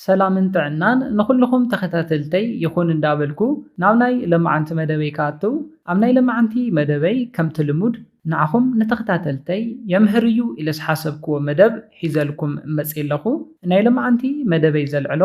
ሰላምን ጥዕናን ንኹልኹም ተኸታተልተይ ይኹን እንዳበልኩ ናብ ናይ ለማዓንቲ መደበይ ክኣትው ኣብ ናይ ለማዓንቲ መደበይ ከምቲ ልሙድ ንዓኹም ንተኸታተልተይ የምህር እዩ ኢለ ዝሓሰብክዎ መደብ ሒዘልኩም መጽየ ኣለኹ ናይ ለማዓንቲ መደበይ ዘልዕሎ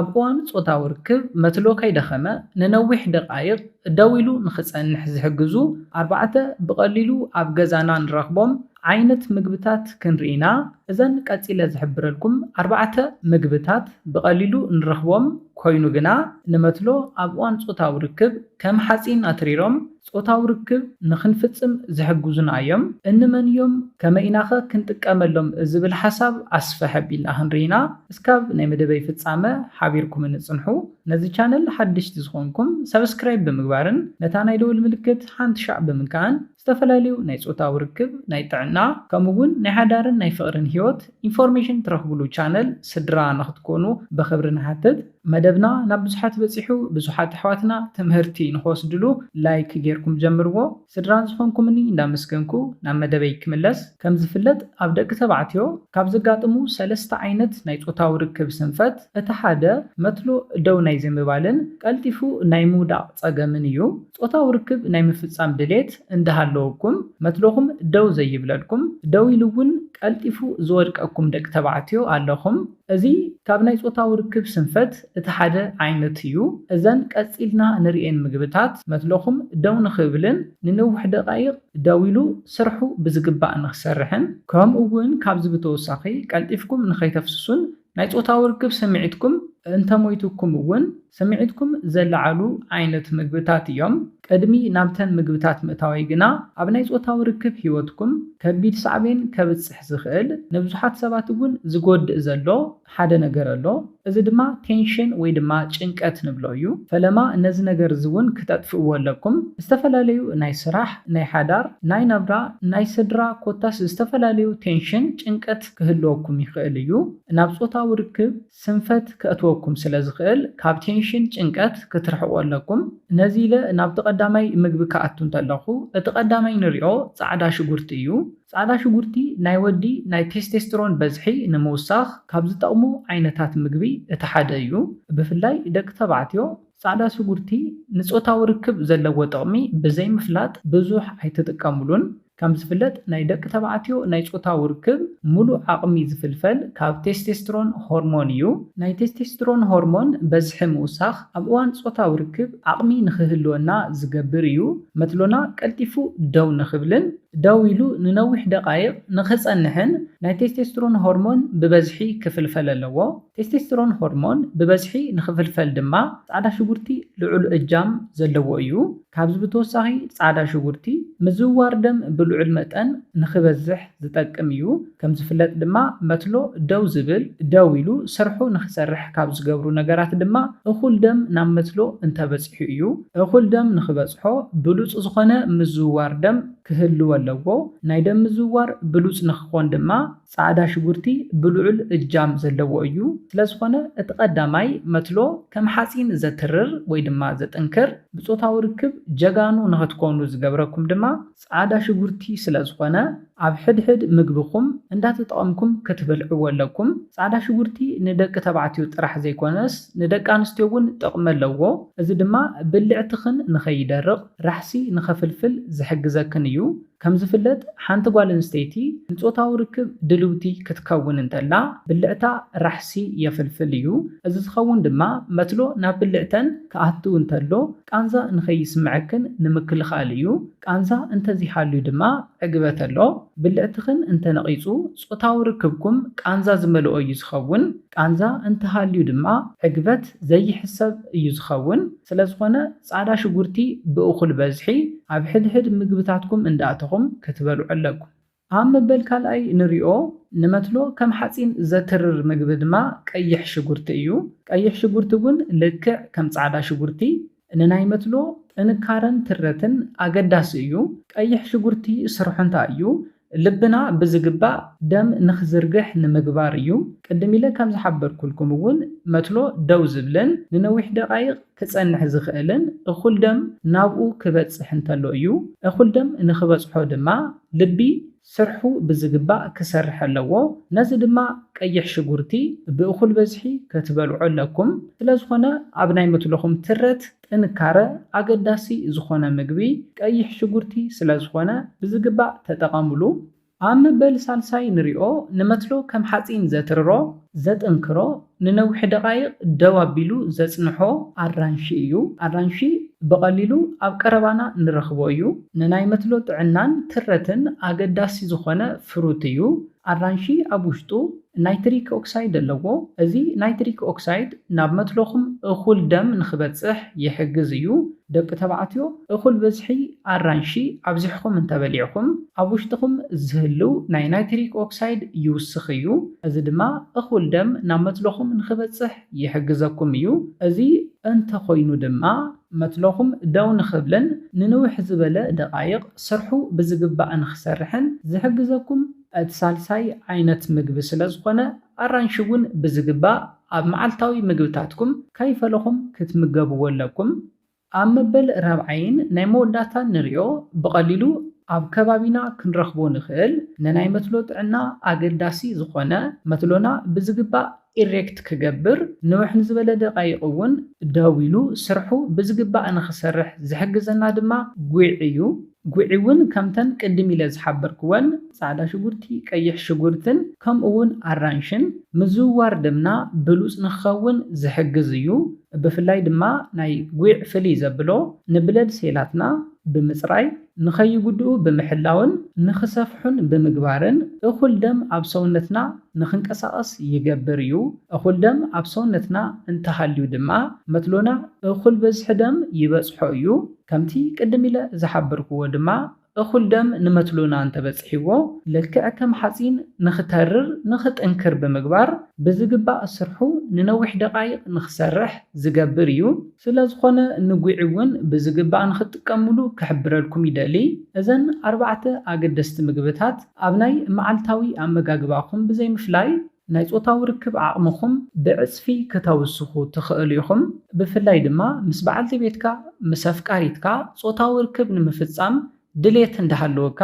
ኣብ እዋን ጾታዊ ርክብ መትሎ ከይደኸመ ንነዊሕ ደቓይቕ ደው ኢሉ ንኽጸንሕ ዝሕግዙ ኣርባዕተ ብቐሊሉ ኣብ ገዛና ንረኽቦም ዓይነት ምግብታት ክንርኢ ኢና። እዘን ቀጺለ ዝሕብረልኩም ኣርባዕተ ምግብታት ብቐሊሉ ንረኽቦም ኮይኑ ግና ንመትሎ ኣብ እዋን ጾታዊ ርክብ ከም ሓጺን ኣትሪሮም ጾታዊ ርክብ ንኽንፍጽም ዝሕግዙና እዮም። እንመን እዮም ከመይ ኢናኸ ክንጥቀመሎም ዝብል ሓሳብ ኣስፍሕ ኣቢልና ክንርኢ ኢና። እስካብ ናይ መደበይ ፍጻመ ሓቢርኩምኒ ጽንሑ። ነዚ ቻነል ሓደሽቲ ዝኾንኩም ሳብስክራይብ ብምግባርን ነታ ናይ ደወል ምልክት ሓንትሻዕ ብምንካእን። ዝተፈላለዩ ናይ ፆታዊ ርክብ፣ ናይ ጥዕና ከምኡ እውን ናይ ሓዳርን ናይ ፍቕርን ህይወት ኢንፎርሜሽን ትረኽብሉ ቻነል ስድራ ንኽትኮኑ ብኽብሪ ንሓትት። መደብና ናብ ብዙሓት በፂሑ ብዙሓት ኣሕዋትና ትምህርቲ ንኽወስድሉ ላይክ ገይርኩም ጀምርዎ። ስድራ ዝኾንኩምኒ እንዳመስገንኩ ናብ መደበይ ክምለስ። ከምዝፍለጥ ኣብ ደቂ ተባዕትዮ ካብ ዘጋጥሙ ሰለስተ ዓይነት ናይ ፆታዊ ርክብ ስንፈት እቲ ሓደ መትሎ ደው ናይ ዘይምባልን ቀልጢፉ ናይ ምውዳቕ ፀገምን እዩ። ጾታዊ ርክብ ናይ ምፍጻም ድሌት እንዳሃለወኩም መትሎኹም ደው ዘይብለልኩም፣ ደው ኢሉ እውን ቀልጢፉ ዝወድቀኩም ደቂ ተባዕትዮ ኣለኹም። እዚ ካብ ናይ ጾታዊ ርክብ ስንፈት እቲ ሓደ ዓይነት እዩ። እዘን ቀጺልና ንርእየን ምግብታት መትሎኹም ደው ንኽብልን ንነዊሕ ደቓይቕ ደው ኢሉ ስርሑ ብዝግባእ ንኽሰርሕን ከምኡ እውን ካብዚ ብተወሳኺ ቀልጢፍኩም ንኸይተፍስሱን ናይ ጾታዊ ርክብ ስምዒትኩም እንተሞይቱኩም እውን ስምዒትኩም ዘለዓዕሉ ዓይነት ምግብታት እዮም። ቅድሚ ናብተን ምግብታት ምእታወይ ግና ኣብ ናይ ጾታዊ ርክብ ህይወትኩም ከቢድ ሳዕቤን ከብጽሕ ዝኽእል ንብዙሓት ሰባት እውን ዝጎድእ ዘሎ ሓደ ነገር ኣሎ። እዚ ድማ ቴንሽን ወይ ድማ ጭንቀት ንብሎ እዩ። ፈለማ ነዚ ነገር እዚ እውን ክተጥፍእዎ ኣለኩም። ዝተፈላለዩ ናይ ስራሕ፣ ናይ ሓዳር፣ ናይ ናብራ፣ ናይ ስድራ ኮታስ ዝተፈላለዩ ቴንሽን፣ ጭንቀት፣ ክህልወኩም ይኽእል እዩ። ናብ ጾታዊ ርክብ ስንፈት ከእትወኩም ስለ ዝኽእል ካብ ቴንሽን፣ ጭንቀት፣ ክትርሕቁ ኣለኩም። ነዚ ኢለ ናብቲ ቀዳማይ ምግቢ ክኣቱ እንተለኹ እቲ ቀዳማይ ንሪኦ ጻዕዳ ሽጉርቲ እዩ። ጻዕዳ ሽጉርቲ ናይ ወዲ ናይ ቴስቴስትሮን በዝሒ ንምውሳኽ ካብ ዝጠቕሙ ዓይነታት ምግቢ እቲ ሓደ እዩ። ብፍላይ ደቂ ተባዕትዮ ጻዕዳ ሽጉርቲ ንጾታዊ ርክብ ዘለዎ ጥቕሚ ብዘይምፍላጥ ብዙሕ ኣይትጥቀምሉን። ከም ዝፍለጥ ናይ ደቂ ተባዕትዮ ናይ ጾታዊ ርክብ ምሉእ ዓቕሚ ዝፍልፈል ካብ ቴስቴስትሮን ሆርሞን እዩ። ናይ ቴስቴስትሮን ሆርሞን በዝሒ ምውሳኽ ኣብ እዋን ጾታዊ ርክብ ዓቕሚ ንኽህልወና ዝገብር እዩ፣ መትሎና ቀልጢፉ ደው ንኽብልን ደው ኢሉ ንነዊሕ ደቓይቕ ንኽጸንሕን ናይ ቴስቴስትሮን ሆርሞን ብበዝሒ ክፍልፈል ኣለዎ። ቴስቴስትሮን ሆርሞን ብበዝሒ ንኽፍልፈል ድማ ጻዕዳ ሽጉርቲ ልዑል እጃም ዘለዎ እዩ። ካብዚ ብተወሳኺ ፃዕዳ ሽጉርቲ ምዝውዋር ደም ብልዑል መጠን ንክበዝሕ ዝጠቅም እዩ። ከምዝፍለጥ ድማ መትሎ ደው ዝብል፣ ደው ኢሉ ስርሑ ንክሰርሕ ካብ ዝገብሩ ነገራት ድማ እኹል ደም ናብ መትሎ እንተበፂሑ እዩ። እኹል ደም ንክበፅሖ ብሉፅ ዝኾነ ምዝውዋር ደም ክህልዎ ኣለዎ። ናይ ደም ምዝውዋር ብሉፅ ንክኾን ድማ ጻዕዳ ሽጉርቲ ብልዑል እጃም ዘለዎ እዩ፣ ስለዝኾነ እቲ ቀዳማይ መትሎ ከም ሓጺን ዘትርር ወይ ድማ ዘጥንክር፣ ብጾታዊ ርክብ ጀጋኑ ንኸትኮኑ ዝገብረኩም ድማ ጻዕዳ ሽጉርቲ ስለዝኾነ ኣብ ሕድሕድ ምግብኹም እንዳተጠቐምኩም ክትበልዕዎ ኣለኩም። ጻዕዳ ሽጉርቲ ንደቂ ተባዕትዮ ጥራሕ ዘይኮነስ ንደቂ ኣንስትዮ እውን ጥቕሚ ኣለዎ፣ እዚ ድማ ብልዕትኽን ንኸይደርቕ ራሕሲ ንኸፍልፍል ዝሕግዘክን እዩ። ከም ዝፍለጥ ሓንቲ ጓል ኣንስተይቲ ንጾታዊ ርክብ ድልውቲ ክትከውን እንተላ ብልዕታ ራሕሲ የፍልፍል እዩ። እዚ ዝኸውን ድማ መትሎ ናብ ብልዕተን ክኣቱ እንተሎ ቃንዛ ንኸይስምዐክን ንምክልኻል እዩ። ቃንዛ እንተዘይሃልዩ ድማ ዕግበት ኣሎ። ብልዕትኽን እንተነቒጹ ጾታዊ ርክብኩም ቃንዛ ዝመልኦ እዩ ዝኸውን። ቃንዛ እንተሃልዩ ድማ ዕግበት ዘይሕሰብ እዩ ዝኸውን። ስለዝኾነ ጻዕዳ ሽጉርቲ ብእኹል በዝሒ ኣብ ሕድሕድ ምግብታትኩም እንዳእተኹም ክትበልዑ ኣለኩም። ኣብ መበል ካልኣይ ንሪኦ ንመትሎ ከም ሓጺን ዘትርር ምግቢ ድማ ቀይሕ ሽጉርቲ እዩ። ቀይሕ ሽጉርቲ እውን ልክዕ ከም ጻዕዳ ሽጉርቲ ንናይ መትሎ ጥንካረን ትረትን ኣገዳሲ እዩ። ቀይሕ ሽጉርቲ ስርሑ እንታይ እዩ? ልብና ብዝግባእ ደም ንኽዝርግሕ ንምግባር እዩ። ቅድም ኢለ ከም ዝሓበርኩልኩም እውን መትሎ ደው ዝብልን ንነዊሕ ደቓይቕ ክጸንሕ ዝኽእልን እኹል ደም ናብኡ ክበጽሕ እንተሎ እዩ። እኹል ደም ንኽበጽሖ ድማ ልቢ ስርሑ ብዝግባእ ክሰርሕ ኣለዎ። ነዚ ድማ ቀይሕ ሽጉርቲ ብእኹል በዝሒ ከትበልዑ ኣለኩም። ስለዝኾነ ኣብ ናይ መትሎኹም ትረት ጥንካረ፣ ኣገዳሲ ዝኾነ ምግቢ ቀይሕ ሽጉርቲ ስለዝኾነ ብዝግባእ ተጠቐምሉ። ኣብ መበል ሳልሳይ ንሪኦ፣ ንመትሎ ከም ሓፂን ዘትርሮ፣ ዘጥንክሮ፣ ንነዊሕ ደቓይቕ ደው ኣቢሉ ዘፅንሖ ኣራንሺ እዩ። ኣራንሺ ብቐሊሉ ኣብ ቀረባና ንረኽቦ እዩ። ንናይ መትሎ ጥዕናን ትረትን ኣገዳሲ ዝኾነ ፍሩት እዩ። ኣራንሺ ኣብ ውሽጡ ናይትሪክ ኦክሳይድ ኣለዎ፣ እዚ ናይትሪክ ኦክሳይድ ናብ መትሎኹም እኹል ደም ንኽበጽሕ ይሕግዝ እዩ። ደቂ ተባዕትዮ፣ እኹል ብዝሒ ኣራንሺ ኣብዚሕኹም እንተበሊዕኩም፣ ኣብ ውሽጥኹም ዝህልው ናይ ናይትሪክ ኦክሳይድ ይውስኽ እዩ፣ እዚ ድማ እኹል ደም ናብ መትሎኹም ንኽበጽሕ ይሕግዘኩም እዩ። እዚ እንተኾይኑ ድማ፣ መትሎኹም ደው ንኽብልን ንንውሕ ዝበለ ደቓይቕ ስርሑ ብዝግባእ ንኽሰርሕን ዝሕግዘኩም እቲ ሳልሳይ ዓይነት ምግቢ ስለዝኾነ፣ ኣራንሺ እውን ብዝግባእ ኣብ መዓልታዊ ምግብታትኩም ከይፈለኹም ክትምገብዎ ኣለኩም። ኣብ መበል ራብዓይን ናይ መወዳእታን ንሪኦ ብቐሊሉ ኣብ ከባቢና ክንረኽቦ ንኽእል ንናይ መትሎ ጥዕና ኣገዳሲ ዝኾነ መትሎና ብዝግባእ ኢሬክት ክገብር፣ ንውሕ ንዝበለ ደቓይቕ እውን ደው ኢሉ ስርሑ ብዝግባእ ንኽሰርሕ ዝሕግዘና ድማ ጒዕ እዩ። ጒዕ እውን ከምተን ቅድም ኢለ ዝሓበርክወን ጻዕዳ ሽጉርቲ፣ ቀይሕ ሽጉርትን ከምኡ እውን ኣራንሽን ምዝውዋር ደምና ብሉጽ ንኽኸውን ዝሕግዝ እዩ። ብፍላይ ድማ ናይ ጒዕ ፍልይ ዘብሎ ንብለድ ሴላትና ብምጽራይ ንኸይጉድኡ ብምሕላውን ንኽሰፍሑን ብምግባርን እኹል ደም ኣብ ሰውነትና ንኽንቀሳቐስ ይገብር እዩ። እኹል ደም ኣብ ሰውነትና እንተሃልዩ ድማ መትሎና እኹል በዝሒ ደም ይበጽሖ እዩ። ከምቲ ቅድም ኢለ ዝሓበርክዎ ድማ እኹል ደም ንመትሎና እንተበጺሕዎ ልክዕ ከም ሓጺን ንኽተርር ንኽጥንክር ብምግባር ብዝግባእ ስርሑ ንነዊሕ ደቓይቕ ንኽሰርሕ ዝገብር እዩ። ስለ ዝኾነ ንጒዒ እውን ብዝግባእ ንኽትጥቀምሉ ክሕብረልኩም ይደሊ። እዘን ኣርባዕተ ኣገደስቲ ምግብታት ኣብ ናይ መዓልታዊ ኣመጋግባኹም ብዘይምፍላይ ናይ ጾታዊ ርክብ ዓቕምኹም ብዕጽፊ ክተውስኹ ትኽእሉ ኢኹም። ብፍላይ ድማ ምስ በዓልቲ ቤትካ፣ ምስ ኣፍቃሪትካ፣ ጾታዊ ርክብ ንምፍጻም ድሌት እንዳሃለወካ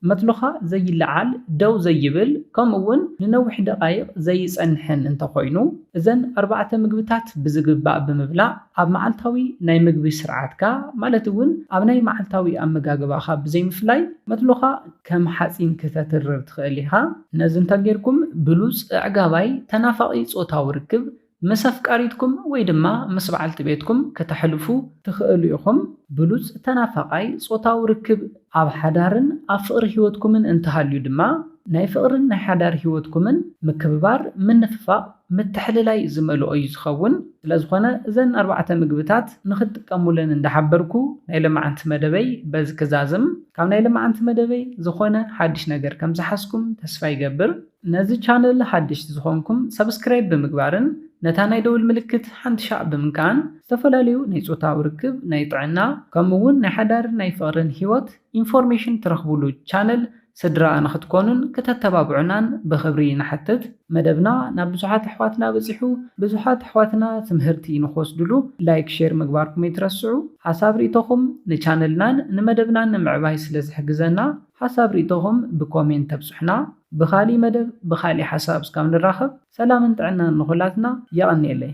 መትሎኻ ዘይለዓል፣ ደው ዘይብል፣ ከምኡ'ውን ንነዊሕ ደቓይቕ ዘይጸንሕን እንተኾይኑ፣ እዘን ኣርባዕተ ምግብታት ብዝግባእ ብምብላዕ ኣብ መዓልታዊ ናይ ምግቢ ስርዓትካ፣ ማለት'ውን ኣብ ናይ መዓልታዊ ኣመጋግባኻ ብዘይምፍላይ፣ መትሎኻ ከም ሓጺን ክተትርር ትኽእል ኢኻ። ነዚ እንተጌርኩም ብሉጽ፣ ኣዕጋባይ፣ ተናፋቒ ጾታዊ ርክብ ምስ ኣፍቃሪትኩም ወይ ድማ ምስ በዓልቲ ቤትኩም ከተሕልፉ ትኽእሉ ኢኹም። ብሉጽ ተናፋቓይ ጾታዊ ርክብ። ኣብ ሓዳርን ኣብ ፍቕሪ ህይወትኩምን እንተሃልዩ ድማ፣ ናይ ፍቕርን ናይ ሓዳር ህይወትኩምን ምክብባር፣ ምንፍፋቕ፣ ምትሕልላይ ዝመልኦ እዩ ዝኸውን። ስለዝኾነ እዘን ኣርባዕተ ምግብታት ንኽትጥቀሙለን እንዳሓበርኩ ናይ ሎማዓንቲ መደበይ በዚ ክዛዝም። ካብ ናይ ሎማዓንቲ መደበይ ዝኾነ ሓድሽ ነገር ከምዝሓዝኩም ተስፋ ይገብር። ነዚ ቻነል ሓደሽቲ ዝኾንኩም ሳብስክራይብ ብምግባርን ነታ ናይ ደውል ምልክት ሓንቲ ሻዕ ብምንካእን ዝተፈላለዩ ናይ ፆታዊ ርክብ፣ ናይ ጥዕና ከምኡ እውን ናይ ሓዳርን ናይ ፍቕርን ህይወት ኢንፎርሜሽን ትረኽቡሉ ቻነል ስድራ ንኽትኮኑን ክተተባብዑናን ብኽብሪ ንሓትት። መደብና ናብ ብዙሓት ኣሕዋትና በፂሑ ብዙሓት ኣሕዋትና ትምህርቲ ንኽወስድሉ ላይክ ሼር ምግባርኩም ኣይትረስዑ። ሓሳብ ሪኢቶኹም ንቻነልናን ንመደብናን ንምዕባይ ስለዝሕግዘና ሓሳብ ሪኢቶኹም ብኮሜንት ተብፁሑና። ብካሊእ መደብ ብካሊእ ሓሳብ እስካብ ንራከብ ሰላምን ጥዕናን ንኩላትና የቀንየለይ።